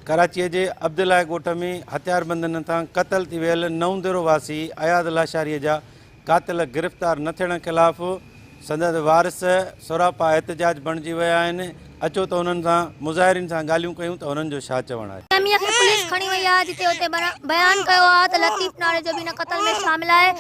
ڪراچيء جي عبدالله ڳوٺ ۾ هٿياربندن هٿان قتل ٿي ويل نئونديرو واسي اياز لاشاريء جا قاتل گرفتار نه ٿيڻ خلاف سندس وارث سراپا احتجاج بڻجي ويا آهن، اچو ته انهن سان مظاهرين سان ڳالهيون ڪيون ته انهن جو ڇا چوڻ آهي. سميع کي پوليس کڻي وئي آهي جتي اتي بيان ڪيو آهي ته لطيف ناڙي جو به ان قتل ۾ شامل آهي،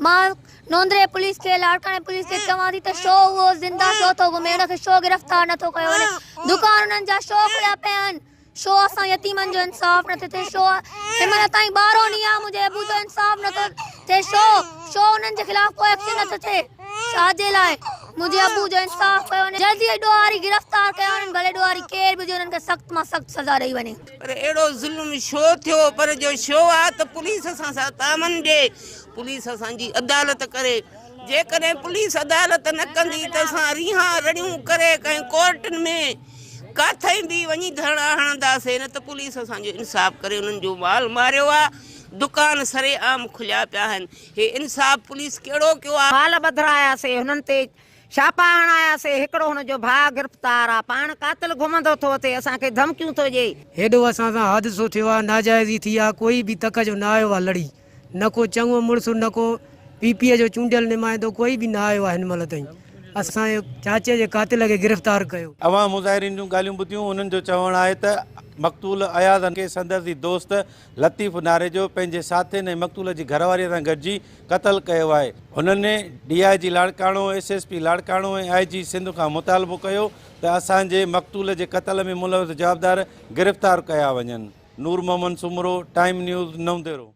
مان. نوندري پوليس کي لاڙڪاڻي پوليس کي چوان ٿي ته شو اهو زنده شو ٿو گهمي ان کي شو گرفتار نٿو ڪيو وڃي دڪان انهن جا شو کليا پيا آهن شو اسان يتيمن جو انصاف نٿي ٿي شو هن مهل تائين ٻارهون ڏينهن آهي منهنجي ابو جو انصاف نٿو ٿي شو شو انهن جي خلاف ڪو ايڪشن نٿو ٿئي ڇاجي لاء منهنجي ابو جو انصاف ڪيو وڃي جلدي ڏوهاري گرفتار ڪيا وڃن ڀلي ڏوهاري ڪير به هجي انهن کي سخت مان سخت سزا ڏئي وڃي. پر اهڙو ظلم شو ٿيو پر جو شو آ ته پوليس اسان سان تعاون ڏي پوليس اسان جي عدالت ڪري جيڪڏهن پوليس عدالت نه ڪندي ته اسان ريها رڙيون ڪري ڪنهن ڪورٽن ۾ ڪاٿئي به وڃي ڌرڻا هڻنداسي نه ته پوليس اسان جو انصاف ڪري انهن جو مال ماريو آ دڪان سري عام کليا پيا آهن هي انصاف پوليس ڪهڙو ڪيو آ. مال ٻڌراياسي هنن تي. ڇاپا هڻاياسي، هڪڙو هن جو ڀاء گرفتار آ، پاڻ قاتل گهمندو ٿو اٿي، اسان کي ڌمڪيون ٿو ڏئي. هيڏو اسان سان حادثو ٿيو آ، ناجائزي ٿي آ، ڪوئي به تڪ جو نه آيو آ لڙي، نه ڪو چڱو مڙس، نه ڪو پي پي اي جو چونڊيل نمائندو، ڪوئي به نه آيو آ هن مهل تائين، اسان جي چاچي جي قاتل کي گرفتار ڪيو. عوام مظاهرين جون ڳالهيون ٻڌيون، انهن جو چوڻ آهي ته مقتول اياز کي سندس ئي دوست لطيف ناريجو پنهنجي ساٿين ۽ مقتول جي گهر واريء سان گڏجي قتل ڪيو آهي. هنن D I G Larkana, S S P Larkana ۽ I G Sindh کان مطالبو ڪيو ته اسان جي مقتول جي قتل ۾ ملوث جوابدار گرفتار ڪيا وڃن. Noor Muhammad Soomro, time news, Naudero.